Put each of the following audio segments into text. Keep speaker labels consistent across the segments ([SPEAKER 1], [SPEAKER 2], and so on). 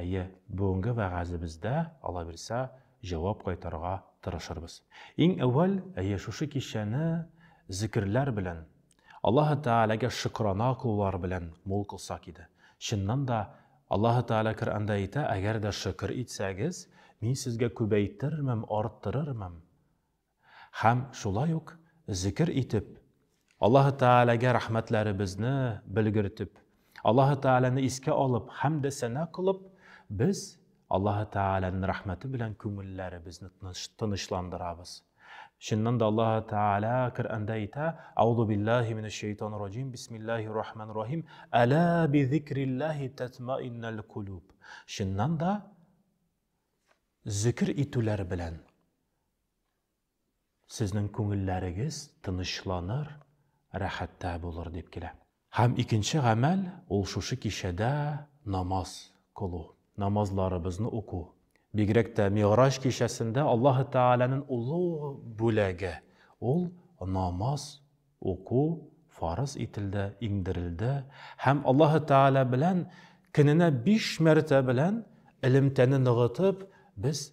[SPEAKER 1] Әйе, бүгенге вәгазебездә, аллабирса, җавап кайтарырга тырышырбыз. Иң әүвәл, әйе, шушы кичәне зикерләр белән, Аллаһы Тәгаләгә шөкерана кылулар белән мул кылсак иде. Чыннан да, Аллаһы Тәгалә Коръәндә әйтә, Әгәр дә шөкер итсәгез, Мин сезгә күбәйтермен, арттырырмын. Һәм шулай ук зикер итеп, Аллаһы Тәгаләгә рәхмәтләребезне белгертеп, Аллаһы Тәгаләне искә алып, хәмдә сәнә кылып, без Аллаһы Тәгаләнең рәхмәте белән күңелләребезне тынычландырабыз. Чыннан да Аллаһы Тәгалә Коръәндә әйтә: "Аузу биллаһи минәш шәйтанир раҗим, бисмиллаһир рахманир рахим, әла би зикриллаһи татмаиннал кулуб". Чыннан да зикер итүләр белән Сезнең күңелләрегез тынычланыр, рәхәттә булыр дип килә. Һәм икенче гамәл, ул шушы кичәдә намаз кылу, намазларыбызны уку. Бигрәк тә Мигъраҗ кичәсендә Аллаһы Тәгаләнең олы бүләге, ул намаз уку фарыз ителде, иңдерелде һәм Аллаһы Тәгалә белән көненә биш мәртә белән элемтәне ныгытып, без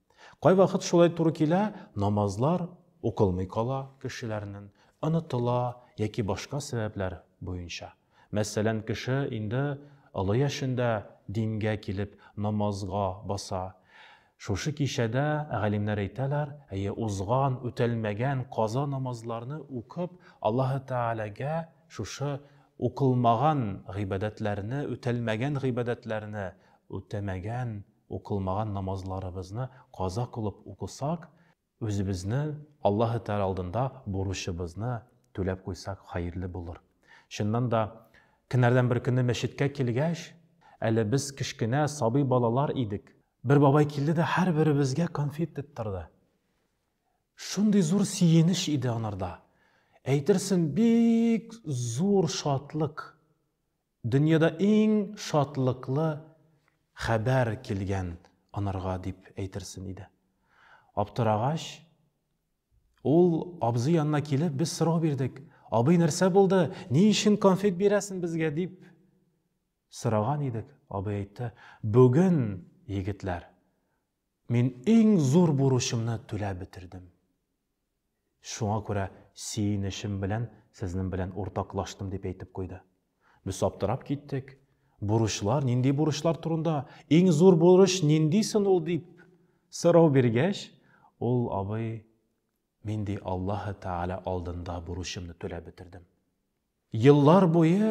[SPEAKER 1] Кайвакыт шулай туры килә, намазлар укылмый кала кешеләрнең, онытыла яки башка сәбәпләр буенча. Мәсәлән, кеше инде олы яшендә дингә килеп намазга баса. Шушы кичәдә галимнәр әйтәләр, әйе, узган, үтәлмәгән каза намазларны укып, Аллаһы Тәгаләгә шушы укылмаган гыйбадәтләрне, үтәлмәгән гыйбадәтләрне үтәмәгән Укылмаган намазларыбызны каза кылып укысак, үзебезне Аллаһы Тәгалә алдында бурычыбызны түләп куйсак хәерле булыр. Чыннан да, көннәрдән бер көнне мәчеткә килгәч, әле без кечкенә сабый балалар идек. Бер бабай килде дә һәрберебезгә конфет тоттырды. Шундый зур сөенеч иде анарда. Әйтерсең, бик зур шатлык Дөньяда иң шатлыклы хәбәр килгән анарга дип әйтерсен иде. Аптырагач, ул абзый янына килеп, без сорау бирдек. Абый, нәрсә булды? Ни өчен конфет бирәсен безгә дип сораган идек. Абый әйтте, бүген, егетләр, Мин иң зур бурычымны түләп бетердем. Шуңа күрә сөенечем белән сезнең белән уртаклаштым, дип әйтеп куйды. Без аптырап киттек. Бурычлар, нинди бурычлар турында, иң зур бурыч нинди сон ул, дип сорау биргәч, ул абый, Мин ди Аллаһы Тәгалә алдында бурычымны түләп бетердем. Еллар буе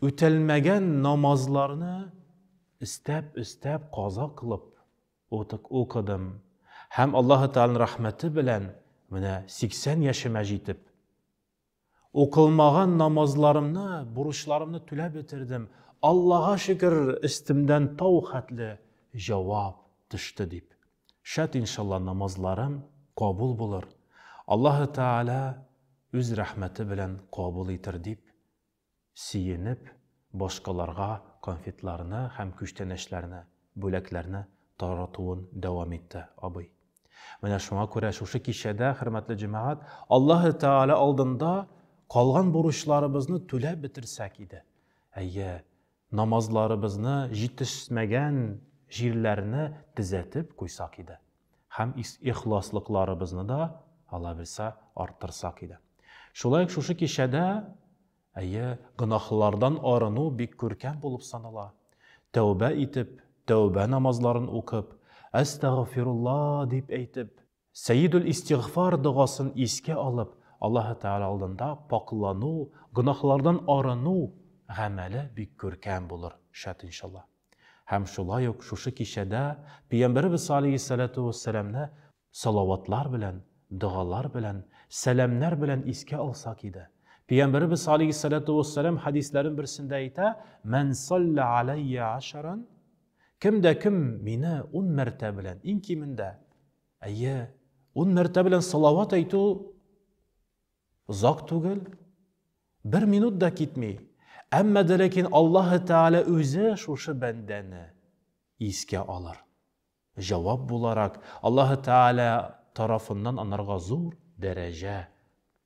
[SPEAKER 1] үтәлмәгән намазларны өстәп-өстәп каза кылып укыдым һәм Аллаһы Тәгаләнең рәхмәте белән менә 80 яшемә җитеп, укылмаган намазларымны, бурычларымны түләп бетердем, Аллага шөкер, өстемдән тау хәтле җавап төште, дип Шат иншалла намазларым кабул булыр, Аллаһы Тәгалә үз рәхмәте белән кабул итер дип сөенеп, башкаларга конфетларны һәм күчтәнәчләрне, бүләкләрне таратуын дәвам итте абый. Менә шуңа күрә шушы кичәдә, хөрмәтле җәмәгать, Аллаһы Тәгалә алдында калган бурычларыбызны түләп бетерсәк иде. Әйе, намазларыбызны җитешмәгән җирләрне төзәтеп куйсак иде һәм ихласлыкларыбызны да алабилсә арттырсак иде. Шулай ук шушы кичәдә, әйе, гөнаһлардан арыну бик күркәм булып санала. Тәүбә итеп, тәүбә намазларын укып, Әстәгъфирулла дип әйтеп, Сәедул-Истигъфар догасын искә алып, Аллаһы Тәгалә алдында пакълану, гөнаһлардан арыну гамәле бик күркәм булыр, шат иншалла. Һәм шулай ук шушы кичәдә Пәйгамбәребез алейһиссәләтү вәссәламне салаватлар белән, догалар белән, сәламнәр белән искә алсак иде. Пәйгамбәребез алейһиссәләтү вәссәлам хәдисләрен берсендә әйтә, Мән саллә аләйя ашаран, Кем дә кем мине ун мәртә белән, иң кимендә, әйе, ун мәртә белән салават әйтү озак түгел, бер минут да китми. Әмма дә ләкин Аллаһ Тәгалә үзе шушы бәндәне искә алыр. Җавап буларак, Аллаһ Тәгалә тарафыннан анарга зур дәрәҗә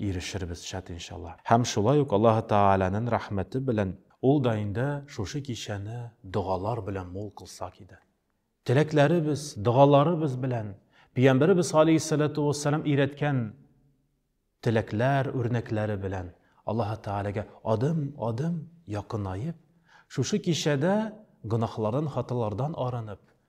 [SPEAKER 1] Ирешербез, шат иншалла. Һәм шулай ук Аллаһы Тәгаләнен рәхмәте белән Ул да инде шушы кичәне догалар белән мул кылсак иде. Теләкләребез, догаларыбыз белән Пиямбәребез галәйһиссәләтү уәссәлам өйрәткән теләкләр, үрнәкләре белән Аллаһы Тәгаләгә адым, адым якынаеп, шушы кичәдә гөнаһлардан, хаталардан арынып,